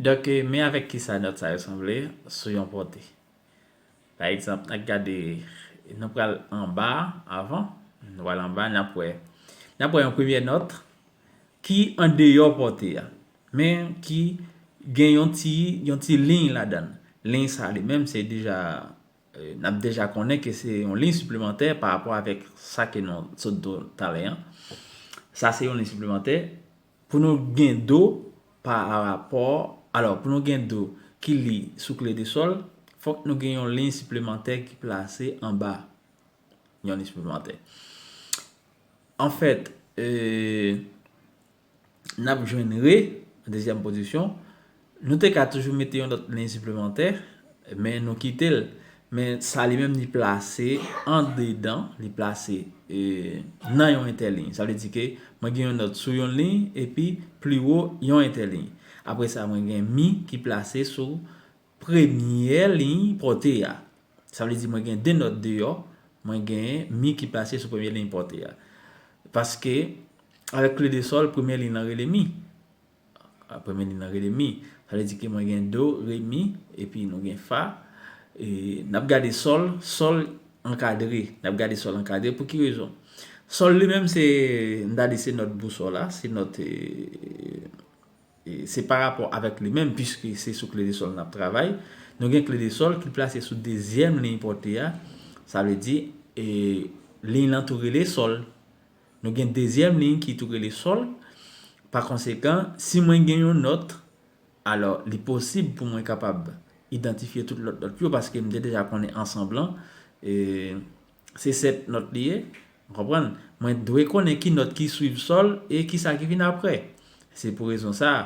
Donk, men avèk ki sa nòt sa yo sanble sou yon pòte. Pa egzanp, n a gade, nou pral anba a avan, nou pral anba a, n ap wè. N ap wè yon premye nòt ki andeyò pòte a, men ki gen yon ti, yon ti liy ladan l. Liy sa li menm se deja, n ap deja konnen ke se yon liy siplemantè pa rapò avèk sa ke nou sot di w talè an. Sa se yon liy siplemantè. Pou nou gen do pa rapò, alò pou nou gen do ki li sou kle de sòl, fòk nou gen yon liy siplemantè ki plase anba yon liy siplemantè. Anfèt, n ap jwenn re, dezyèm pozisyon, Nou te ka toujou mete yon lòt liy siplemantè, men nou kite l. Men sa li menm li plase andedan, li plase nan yon entèliy. Sa vle di ke mwen gen yon nòt sou yon liy epi pliwo yon entèliy. Apre sa mwen gen mi ki plase sou premyè liy pòte a. Sa vle di mwen gen de nòt deyò, mwen gen mi ki plase sou premye liy pòte a. Paske avèk kle de sòl, premye liy lan rele mi. Apre midi nan rele mi. Sa vle di ke mwen gen do, re, mi, epi nou gen fa. E n ap gade sòl, sòl ankadre. N ap gade sòl ankadre pou ki rezon? Sòl li menm se, m ta di se nòt bousòl la, se nòt e, se parapò avèk li menm puiske se sou kle de sòl n ap travay. Nou gen kle de sòl ki plase sou dezyèm liy pòte a. Sa vle di e liy lan tou rele sòl. Nou gen dezyèm liy ki tou rele sòl. Pakonsekan, si mwen gen yon nòt, alò li posib pou mwen kapab idantifye tout lòt nòt yo paske m te deja konnen ansanb lan se sèt nòt li ye. Ou konprann? Mwen dwe konnen ki nòt ki swiv sòl e ki sa ki vin apre. Se pou rezon sa a,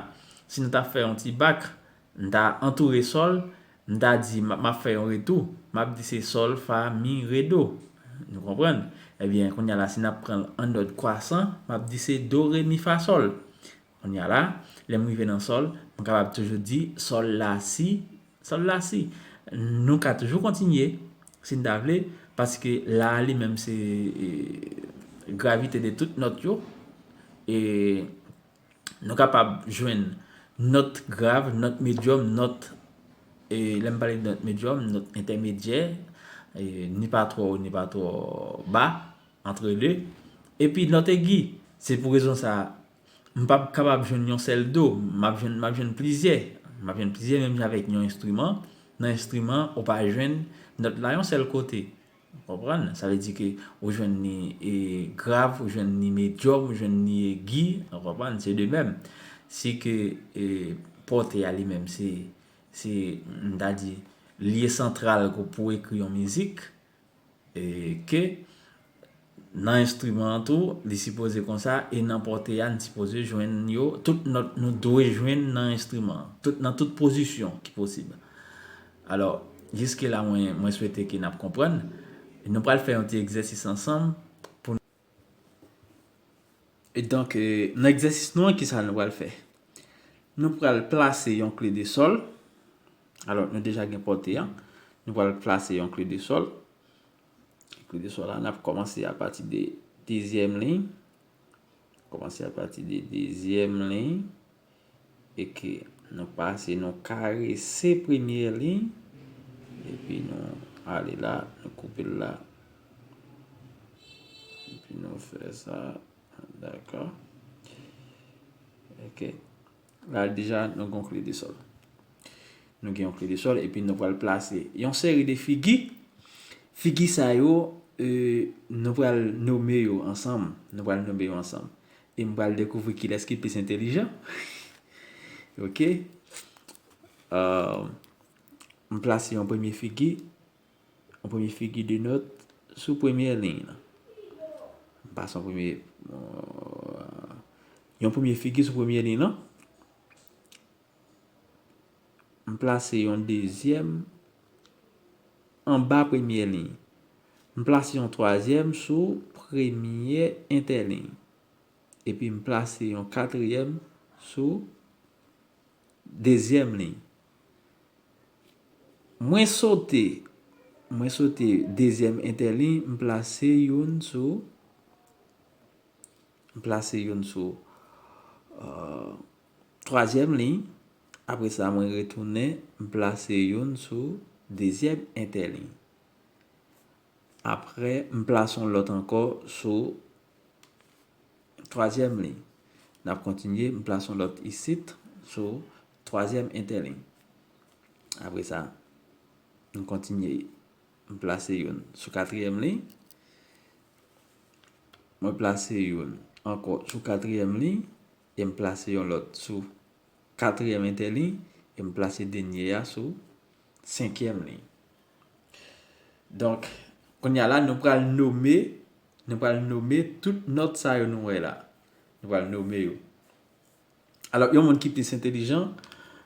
si nou ta fè yon ti bak, M ta antoure sòl, m ta di m ap fè yon retou, m ap di se sòl, fa, mi, re, do. Nou konprann? Ebyen, kounye a la, si n ap pran l an nòd kwasan, m ap di se do, re, mi, fa, sòl. Kounye a la, lè m rive nan sòl, m kapab toujou di sòl la si, sòl la si. Nou ka toujou kontinye, si n ta vle, paske la a li menm se gravite de tout nòt yo. E. Nou kapab jwenn nòt grav, nòt medyòm, nòt, lè m pale de nòt medyòm, nòt entèmedyè, ni pa twò wo, ni pa twò ba, antre de, epi nòt egi. Se pou rezon sa a, m p ap kapab jwenn yon sèl do, m ap jwenn plizyè. M ap jwenn plizyè menm jan avèk yon enstriman, nan enstriman ou pa jwenn nòt la yon sèl kote. Ou konprann? Sa vle di ke ou jwenn ni grav, ou jwenn ni medyòm, ou jwenn ni egi. Ou konprann? Se de mèm, si ke pòte a li menm se, se, m ta di, lye santral ke w pou ekri yon mizik, e ke nan enstriman an tou, li sipoze konsa, e nan pòte a, n sipoze jwenn yo, tout nòt nou dwe jwenn nan enstriman an, tout, nan tout pozisyon ki posib. Alò, jiske la mwen mwen swete ke nap konprann. Nou pral fè yon ti egzèsis ansanm pou nou. E donk nan egzèsis nou an kisa nou pral fè? Nou pral plase yon kle de sòl. Alò nou deja gen pòte an. Nou pral plase yon kle de sòl. Kle de sòl la nap kòmanse a pati de dezyèm liy. Kòmanse a pati de dezyèm liy. Eke nou pase nou karese premye liy epi nou ale la nou koupe l la epi nou fè sa daka ok la deja nou gon kle de sòl nou gen yon kle de sòl epi nou pral plase yon seri de figi figi sa yo nou pral nome yo ansanm nou pral nome yo ansanm E m pral dekouvri kilès ki plis entelijan. Ok. M plase yon premye figi. Yon premye figi de nòt sou premye liy nan. M pase yon premye. Yon premye figi sou premye liy nan. M plase yon dezyèm anba premye liy. M plase yon twazyèm sou premye entèliy. Epi m plase yon katriyèm sou dezyèm liy. Mwen sote, mwen sote dezyèm entèliy, m plase youn sou, m plase youn sou twazyèm liy, apre sa mwen retounen m plase youn sou dezyèm entèliy. Apre m plase yon lòt ankò sou twazyèm liy. N ap kontinye, m plase yon lòt isit sou twazyèm entèliy. Apre sa, m kontinye, m plase youn sou katriyèm liy, mwen plase youn ankò sou katriyèm liy, e m plase yon lòt sou katriyèm entèliy e m plase dènye a sou senkyèm liy. Donk, kounye a la, nou pral nome, nou pral nome tout nòt sa yo nou wè la. Nou pral nome yo. Alò, yon moun ki plis entelijan,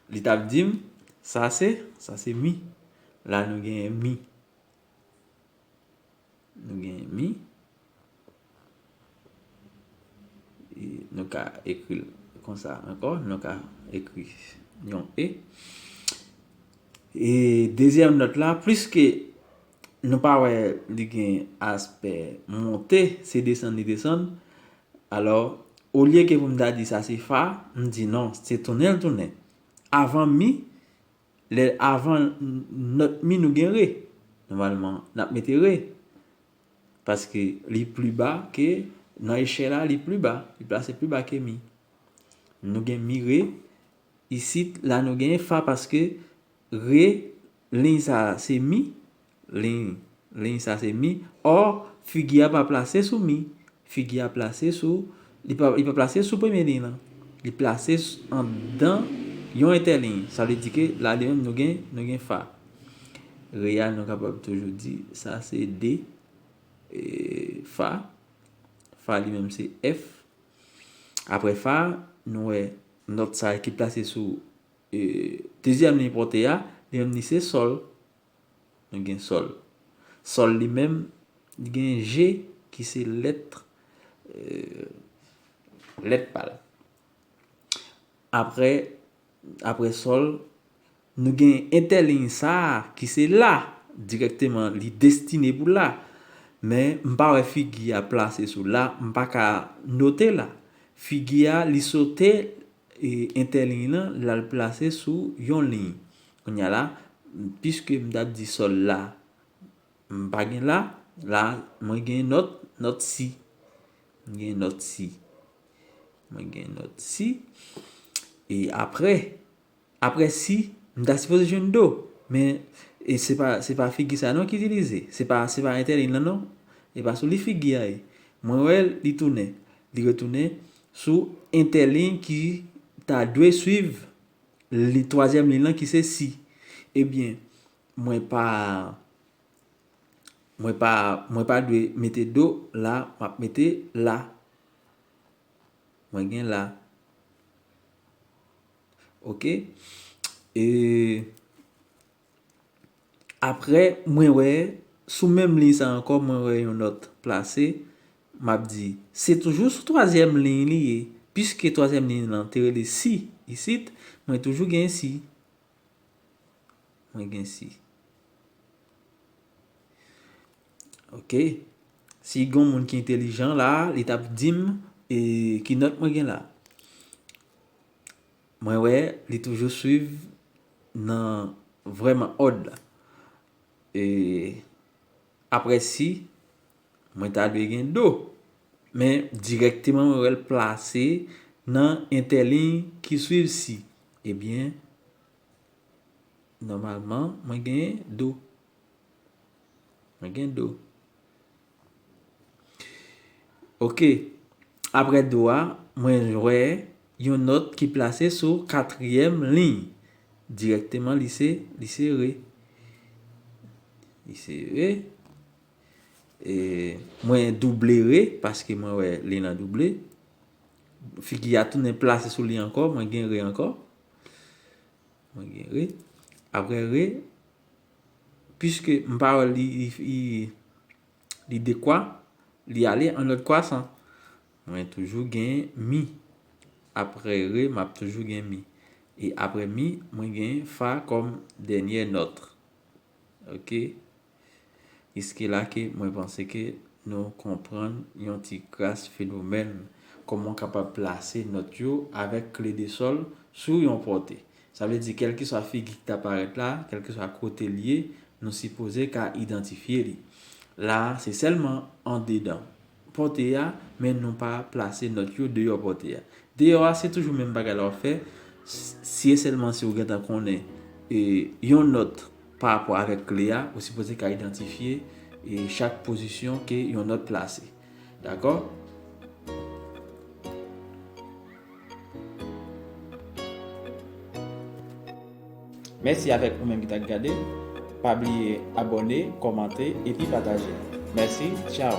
li t ap di m, sa se, sa se mi. La nou genyen mi. Nou gen mi. E nou ka ekri kon sa ankò. Nou ka ekri yon e. E dezyèm nòt la, pliske nou pa wè li gen aspè monte, se desann li desann. Alò, olye ke pou m ta di sa se fa, m di non, se tounen l tounen. Avan mi, Lè avan not mi nou gen re. Nòmalman nap mete re. Paske li pli ba ke nan echè la li pli ba. Li plase pli ba ke mi. Nou gen mi re. Isit la nou gen fa paske re liy sa se mi. Liy, liy sa se mi. Or, figi a pa plase sou mi. Figi a plase sou, li pa, li pa plase sou premye liy lan. Li plase anndan yon entèliy. Sa vle di ke la li menm nou gen, nou gen fa. Re a nou kapab toujou di sa se de e fa. Fa li menm se F. Apre fa a, nou wè nòt sa ki plase sou e dezyèm liy pote a, li menm li se sòl. Nou gen Sol. Sol li menm, li gen G ki se lèt lèt pa l. Aprè aprè Sol, nou gen entèliy sa a ki se La. Dirèkteman li destine pou La. Men m pa wè figi a plase sou La, m pa ka note La. Figi a li sote entèliy lan, l al plase sou yon liy. Kounya la, piske m ta di sòl la, m pa gen la, la mwen gen nòt, nòt si. M gen nòt si. Mwen gen nòt si. E apre, apre si, m ta sipoze jwenn do. Men, e se pa, se pa figi sa non ki itilize. Se pa, se pa entèliy lan non. E pa sou li figi a ye. Mwen wè l, li tounen. Li retounen sou entèliy ki ta dwe swiv. Li twazyèm liy lan ki se si. Ebyen, mwen pa, mwen pa, mwen pa dwe mete do la, m ap mete la. Mwen gen la. Ok? E. Aprè mwen wè sou menm liy sa ankò mwen wè yon nòt plase, m ap di, se toujou sou twazyèm liy li ye, piske twazyèm liy lan te rele si isit, mwen toujou gen si. Mwen gen si. Ok. Si gon moun ki entelijan la, li t ap di m ki nòt mwen gen la. Mwen wè li toujou swiv nan vrèman òd la. E aprè si mwen ta dwe gen do. Men dirèkteman mwen wè l plase nan entèliy ki swiv si. Ebyen nòmalman mwen gen do. Mwen gen do. Ok, apre do a, mwen wè yon nòt ki plase sou katriyèm liy. Dirèkteman li se, li se re. Li se re. E mwen double re, paske mwen wè li nan double. Figi a tounen plase sou li ankò, mwen gen re ankò. Mwen gen re. Apre re, Piske m pa wè li dekwa, li ale an lòt kwasan. Mwen toujou gen mi. Apre re, m ap toujou gen mi. E apre mi, mwen gen fa kòm dènyè nòt. Ok? Jiske la ke mwen panse ke nou konprann yon ti kras fenomèn. Kòman w kapab plase nòt yo avèk kle de sòl sou yon pòte. Sa vle di kèlkeswa figi ki ta parèt la, kèlkeswa kote l ye, nou sipoze ka idantifye li. La a, se sèlman andedan pòte a, men nou pa plase nòt yo deyò pòte a. Deyò a, se toujou menm bagay la w ap fè, si e sèlman si ou gentan konnen yon nòt parapò avèk kle a, ou sipoze ka idantifye chak pozisyon ke yon nòt plase. Dakò? Mèsi avèk ou menm ki t ak gade. Pa bliye abòne, kòmante epi pataje. Mèsi, tchao!